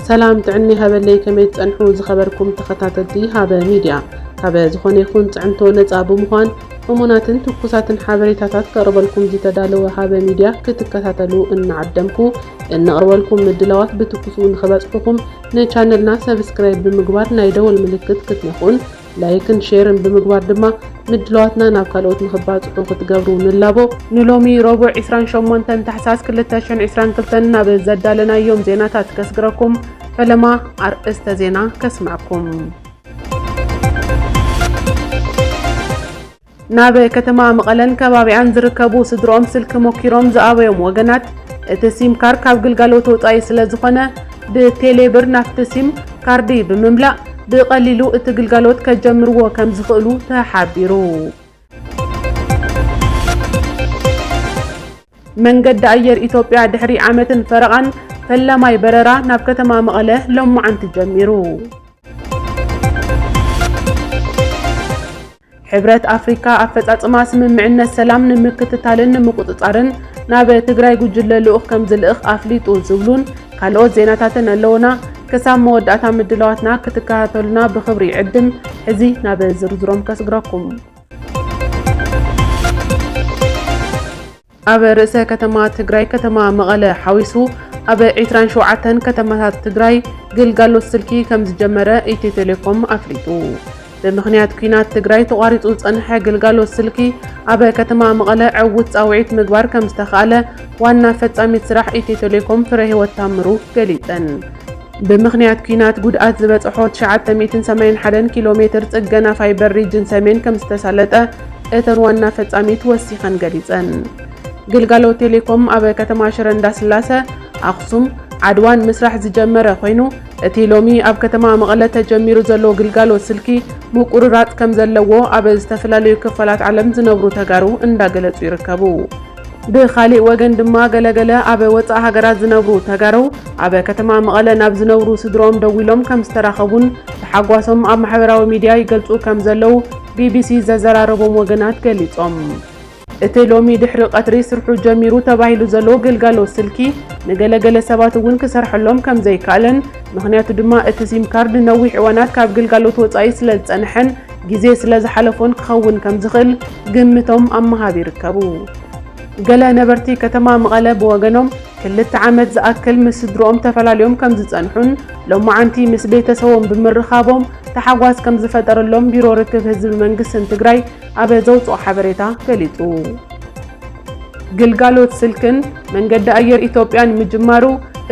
ሰላም ጥዕና ሃበለይ ከመይ ትጸንሑ ዝኸበርኩም ተኸታተልቲ ሃበ ሚድያ ካበ ዝኾነ ይኹን ጽዕንቶ ነጻ ብምዃን እሙናትን ትኩሳትን ሓበሬታታት ከቕርበልኩም ዝተዳለወ ሃበ ሚድያ ክትከታተሉ እናዓደምኩ እንቕርበልኩም ምድላዋት ብትኩሱ ንኽበጽሑኹም ንቻነልና ሰብስክራይብ ብምግባር ናይ ደወል ምልክት ክትነክኡን ላይክን ሼርን ብምግባር ድማ ምድላዋትና ናብ ካልኦት ንኽባፅሑ ክትገብሩ ንላቦ። ንሎሚ ረቡዕ ዕስራን ሸሞንተን ታሕሳስ ክልተ ሽሕን ዕስራን ክልተን ናብ ዘዳለናዮም ዜናታት ከስግረኩም ፈለማ ኣርእስተ ዜና ከስመዐኩም። ናብ ከተማ መቐለን ከባቢኣን ዝርከቡ ስድርኦም ስልኪ ሞኪሮም ዝኣበዮም ወገናት፣ እቲ ሲም ካር ካብ ግልጋሎት ወፃኢ ስለዝኾነ ብቴሌ ብር ናብቲ ሲም ካርዲ ብምምላእ ብቐሊሉ እቲ ግልጋሎት ከጀምርዎ ከምዝኽእሉ ተሓቢሩ። መንገዲ ኣየር ኢትዮጵያ ድሕሪ ዓመትን ፈረቓን ፈላማይ በረራ ናብ ከተማ መቐለ ሎማዕንቲ ጀሚሩ። ሕብረት ኣፍሪካ ኣፈፃፅማ ስምምዕነት ሰላም ንምክትታልን ንምቁፅፃርን ናብ ትግራይ ጉጅለ ልኡኽ ከምዝልእኽ ኣፍሊጡ ዝብሉን ካልኦት ዜናታትን ኣለውና። ክሳብ መወዳእታ ምድላዋትና ክትከታተሉና ብኽብሪ ይዕድም። ሕዚ ናብ ዝርዝሮም ከስግረኩም። ኣብ ርእሰ ከተማ ትግራይ ከተማ መቐለ ሓዊሱ ኣብ ዒስራን ሸውዓተን ከተማታት ትግራይ ግልጋሎት ስልኪ ከምዝጀመረ ኢትዮ ቴሌኮም ኣፍሊጡ። ብምኽንያት ኲናት ትግራይ ተቋሪፁ ዝፀንሐ ግልጋሎት ስልኪ ኣብ ከተማ መቐለ ዕዉት ፃውዒት ምግባር ከምዝተኽኣለ ዋና ፈፃሚት ስራሕ ኢትዮ ቴሌኮም ፍረህይወት ታምሩ ገሊፀን። ብምኽንያት ኲናት ጉድኣት ዝበፀሖ ትሽዓተ ሚእትን ሰማንያን ሓደን ኪሎ ሜትር ፅገና ፋይበር ሪጅን ሰሜን ከምዝተሳለጠ እተን ዋና ፈፃሚት ወሲኸን ገሊፀን። ግልጋሎት ቴሌኮም ኣብ ከተማ ሽረ እንዳስላሰ፣ ኣኽሱም፣ ዓድዋን ምስራሕ ዝጀመረ ኮይኑ እቲ ሎሚ ኣብ ከተማ መቐለ ተጀሚሩ ዘሎ ግልጋሎት ስልኪ ምቁርራፅ ከምዘለዎ ኣብ ዝተፈላለዩ ክፋላት ዓለም ዝነብሩ ተጋሩ እንዳገለፁ ይርከቡ። ብኻሊእ ወገን ድማ ገለ ገለ ኣብ ወፃእ ሃገራት ዝነብሩ ተጋሩ ኣብ ከተማ መቐለ ናብ ዝነብሩ ስድርኦም ደዊሎም ከምዝተራኸቡን ተሓጓሶም ኣብ ማሕበራዊ ሚዲያ ይገልፁ ከምዘለው ቢቢሲ ዘዘራረቦም ወገናት ገሊፆም። እቲ ሎሚ ድሕሪ ቐትሪ ስርሑ ጀሚሩ ተባሂሉ ዘሎ ግልጋሎት ስልኪ ንገለ ገለ ሰባት እውን ክሰርሐሎም ከምዘይከኣለን ምኽንያቱ ድማ እቲ ሲም ካርድ ንነዊሕ እዋናት ካብ ግልጋሎት ወፃኢ ስለዝፀነሐን ግዜ ስለ ዝሓለፎን ክኸውን ከም ዝኽእል ግምቶም ኣብ ምሃብ ይርከቡ። ገለ ነበርቲ ከተማ መቐለ ብወገኖም፣ ክልተ ዓመት ዝኣክል ምስ ስድርኦም ተፈላልዮም ከም ዝጸንሑን ሎማዓንቲ ምስ ቤተሰቦም ብምርኻቦም ታሕጓስ ከም ዝፈጠረሎም ቢሮ ርክብ ህዝቢ መንግስትን ትግራይ ኣብ ዘውጽኦ ሓበሬታ ገሊጹ። ግልጋሎት ስልክን መንገዲ ኣየር ኢትዮጵያን ምጅማሩ፣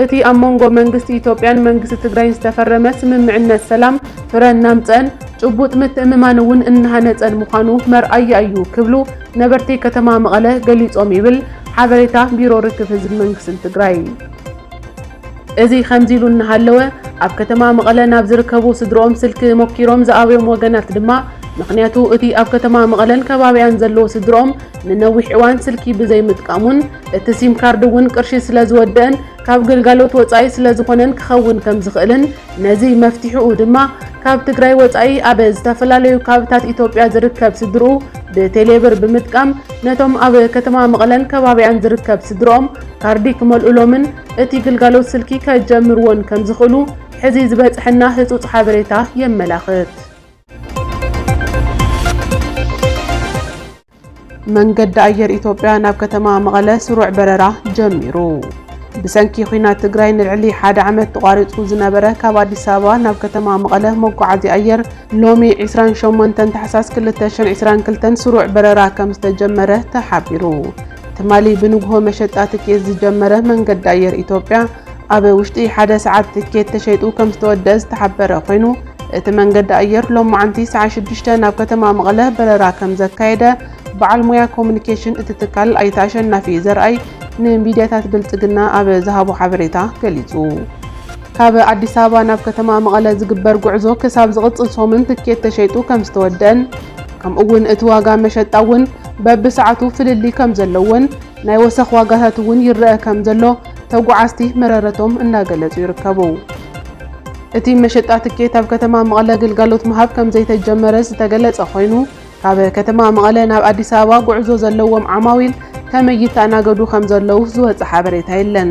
እቲ ኣብ መንጎ መንግስቲ ኢትዮጵያን መንግስቲ ትግራይን ዝተፈረመ ስምምዕነት ሰላም ፍረ እናምጽአን፣ ጭቡጥ ምትእምማን እውን እናሃነፀን ምዃኑ መርኣያ እዩ ክብሉ ነበርቲ ከተማ መቐለ ገሊፆም ይብል ሓበሬታ ቢሮ ርክብ ህዝቢ መንግስቲ ትግራይ። እዚ ከምዚ ኢሉ እናሃለወ ኣብ ከተማ መቐለ ናብ ዝርከቡ ስድርኦም ስልኪ ሞኪሮም ዝኣበዮም ወገናት ድማ ምኽንያቱ እቲ ኣብ ከተማ መቐለን ከባቢኣን ዘለዎ ስድርኦም ንነዊሕ እዋን ስልኪ ብዘይምጥቃሙን እቲ ሲም ካርድ እውን ቅርሺ ስለዝወደእን ካብ ግልጋሎት ወፃኢ ስለዝኾነን ክኸውን ከምዝኽእልን ነዚ መፍትሒኡ ድማ ካብ ትግራይ ወፃኢ ኣብ ዝተፈላለዩ ካብታት ኢትዮጵያ ዝርከብ ስድርኡ ብቴሌብር ብምጥቃም ነቶም ኣብ ከተማ መቐለን ከባቢኣን ዝርከብ ስድርኦም ካርዲ ክመልኡሎምን እቲ ግልጋሎት ስልኪ ከጀምርዎን ከምዝኽእሉ ሕዚ ዝበፅሐና ህፁፅ ሓበሬታ የመላኽት። መንገዲ ኣየር ኢትዮጵያ ናብ ከተማ መቐለ ስሩዕ በረራ ጀሚሩ። ብሰንኪ ኲናት ትግራይ ንልዕሊ ሓደ ዓመት ተቋሪፁ ዝነበረ ካብ ኣዲስ ኣበባ ናብ ከተማ መቐለ መጓዓዝያ ኣየር ሎሚ ዕስራን ሸሞንተን ታሕሳስ ክልተ ሽሕን ዕስራን ክልተን ስሩዕ በረራ ከምዝተጀመረ ተሓቢሩ። ትማሊ ብንግሆ መሸጣ ትኬት ዝጀመረ መንገዲ ኣየር ኢትዮጵያ ኣብ ውሽጢ ሓደ ሰዓት ትኬት ተሸይጡ ከም ዝተወደኣ ዝተሓበረ ኮይኑ እቲ መንገዲ ኣየር ሎማዕንቲ ሰዓ ሽዱሽተ ናብ ከተማ መቐለ በረራ ከም ዘካየደ በዓል ሙያ ኮሙኒኬሽን እቲ ትካል ኣይተ ኣሸናፊ ዘርኣይ ንሚድያታት ብልፅግና ኣብ ዝሃቦ ሓበሬታ ገሊፁ። ካብ ኣዲስ ኣበባ ናብ ከተማ መቐለ ዝግበር ጉዕዞ ክሳብ ዝቕፅል ሶምን ትኬት ተሸይጡ ከም ዝተወደኣን ከምኡ እውን እቲ ዋጋ መሸጣ እውን በብሰዓቱ ፍልልይ ከም ዘለዎን ናይ ወሰኽ ዋጋታት እውን ይረኣ ከም ዘሎ ተጓዓዝቲ መረረቶም እናገለፁ ይርከቡ። እቲ መሸጣ ትኬት ኣብ ከተማ መቐለ ግልጋሎት ምሃብ ከምዘይተጀመረ ዝተገለፀ ኮይኑ ካብ ከተማ መቐለ ናብ ኣዲስ ኣበባ ጉዕዞ ዘለዎም ዓማዊል ከመይ ይተኣናገዱ ከምዘለዉ ዝወፀ ሓበሬታ የለን።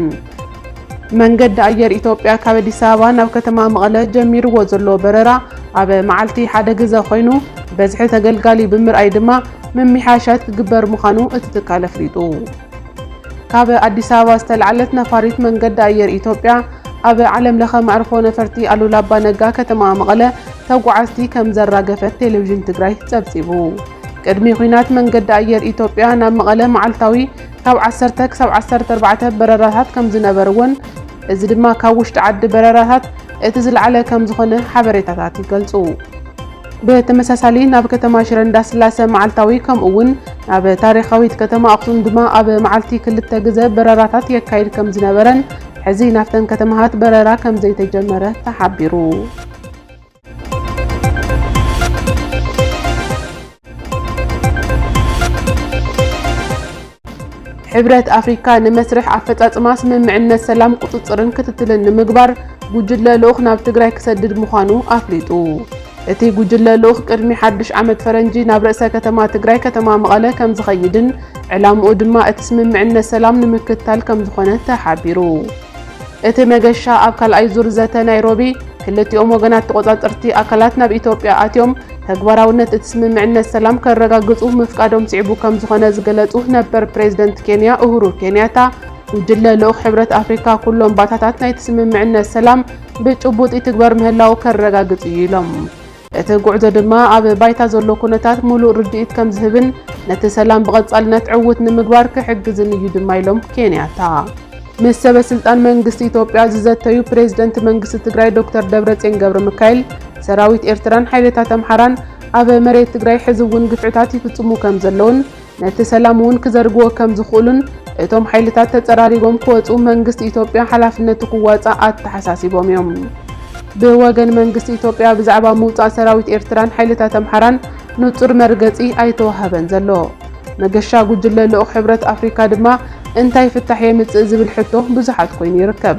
መንገዲ ኣየር ኢትዮጵያ ካብ ኣዲስ ኣበባ ናብ ከተማ መቐለ ጀሚርዎ ዘሎ በረራ ኣብ መዓልቲ ሓደ ግዘ ኮይኑ በዝሒ ተገልጋሊ ብምርኣይ ድማ ምምሕያሻት ክግበር ምዃኑ እቲ ትካል ኣፍሊጡ። ካብ ኣዲስ ኣበባ ዝተልዓለት ነፋሪት መንገዲ ኣየር ኢትዮጵያ ኣብ ዓለም ለኸ መዕርፎ ነፈርቲ ኣሉላ ኣባ ነጋ ከተማ መቐለ ተጓዓዝቲ ከም ዘራገፈት ቴሌቪዥን ትግራይ ፀብፂቡ። ቅድሚ ኹናት መንገዲ ኣየር ኢትዮጵያ ናብ መቐለ መዓልታዊ ካብ ዓሰርተ ክሳብ ዓሰርተ ኣርባዕተ በረራታት ከም ዝነበርዎን እዚ ድማ ካብ ውሽጢ ዓዲ በረራታት እቲ ዝለዓለ ከም ዝኾነ ሓበሬታታት ይገልፁ። ብተመሳሳሊ ናብ ከተማ ሽረ እንዳስላሰ መዓልታዊ ከምኡ ውን ናብ ታሪኻዊት ከተማ ኣኽሱም ድማ ኣብ መዓልቲ ክልተ ግዘ በረራታት የካይድ ከምዝነበረን ሕዚ ናብተን ከተማሃት በረራ ከምዘይተጀመረ ተሓቢሩ። ሕብረት ኣፍሪካ ንመስርሕ ኣፈፃፅማ ስምምዕነት ሰላም ቁፅፅርን ክትትልን ንምግባር ጉጅለ ልኡኽ ናብ ትግራይ ክሰድድ ምዃኑ ኣፍሊጡ። እቲ ጉጅለ ልኡኽ ቅድሚ ሓዱሽ ዓመት ፈረንጂ ናብ ርእሰ ከተማ ትግራይ ከተማ መቐለ ከምዝኸይድን ዕላምኡ ድማ እቲ ስምምዕነት ሰላም ንምክትታል ከምዝኾነ ተሓቢሩ። እቲ መገሻ ኣብ ካልኣይ ዙር ዘተ ናይሮቢ፣ ክልቲኦም ወገናት ተቖጻጸርቲ ኣካላት ናብ ኢትዮጵያ ኣትዮም ተግባራውነት እቲ ስምምዕነት ሰላም ከረጋግጹ ምፍቃዶም ስዒቡ ከምዝኾነ ዝገለጹ ነበር ፕሬዝደንት ኬንያ ኡሁሩ ኬንያታ፣ ጉጅለ ልኡኽ ሕብረት ኣፍሪካ ኩሎም ባእታታት ናይቲ ስምምዕነት ሰላም ብጭቡጥ ይትግበር ምህላዉ ከረጋግጽ እዩ ኢሎም። እቲ ጉዕዞ ድማ ኣብ ባይታ ዘሎ ኩነታት ሙሉእ ርድኢት ከምዝህብን ነቲ ሰላም ብቐፃልነት ዕዉት ንምግባር ክሕግዝን እዩ ድማ ኢሎም ኬንያታ። ምስ ሰበ ስልጣን መንግስቲ ኢትዮጵያ ዝዘተዩ ፕሬዝደንት መንግስቲ ትግራይ ዶክተር ደብረፅዮን ገብረሚካኤል ሰራዊት ኤርትራን ሓይልታት ኣምሓራን ኣብ መሬት ትግራይ ሕዚ እውን ግፍዕታት ይፍፅሙ ከምዘለውን ነቲ ሰላም እውን ክዘርግዎ ከም ዝኽእሉን እቶም ሓይልታት ተፀራሪጎም ክወፁ መንግስቲ ኢትዮጵያ ሓላፍነቱ ክዋፃእ ኣተሓሳሲቦም እዮም። ብወገን መንግስቲ ኢትዮጵያ ብዛዕባ ምውፃእ ሰራዊት ኤርትራን ሓይልታት ኣምሓራን ንፁር መርገፂ ኣይተወሃበን ዘሎ። መገሻ ጉጅለ ልኡኽ ሕብረት ኣፍሪካ ድማ እንታይ ፍታሕ የምፅእ ዝብል ሕቶ ብዙሓት ኮይኑ ይርከብ።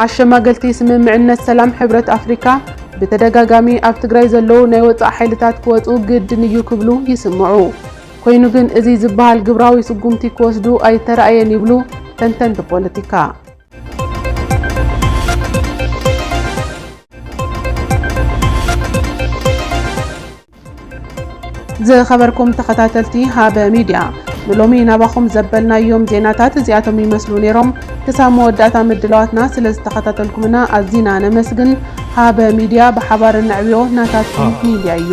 ኣሸማገልቲ ስምምዕነት ሰላም ሕብረት ኣፍሪካ ብተደጋጋሚ ኣብ ትግራይ ዘለዉ ናይ ወፃኢ ሓይልታት ክወፁ ግድን እዩ ክብሉ ይስምዑ። ኮይኑ ግን እዚ ዝበሃል ግብራዊ ስጉምቲ ክወስዱ ኣይተራእየን ይብሉ ተንተንቲ ፖለቲካ። ዝኸበርኩም ተኸታተልቲ ሃበ ሚድያ ንሎሚ ናባኹም ዘበልናዮም ዜናታት እዚኣቶም ይመስሉ ነይሮም። ክሳብ መወዳእታ ምድላዋትና ስለዝተኸታተልኩምና ኣዚና ነመስግን። ሃበ ሚድያ ብሓባር እነዕብዮ ናታትኩም ሚድያ እዩ።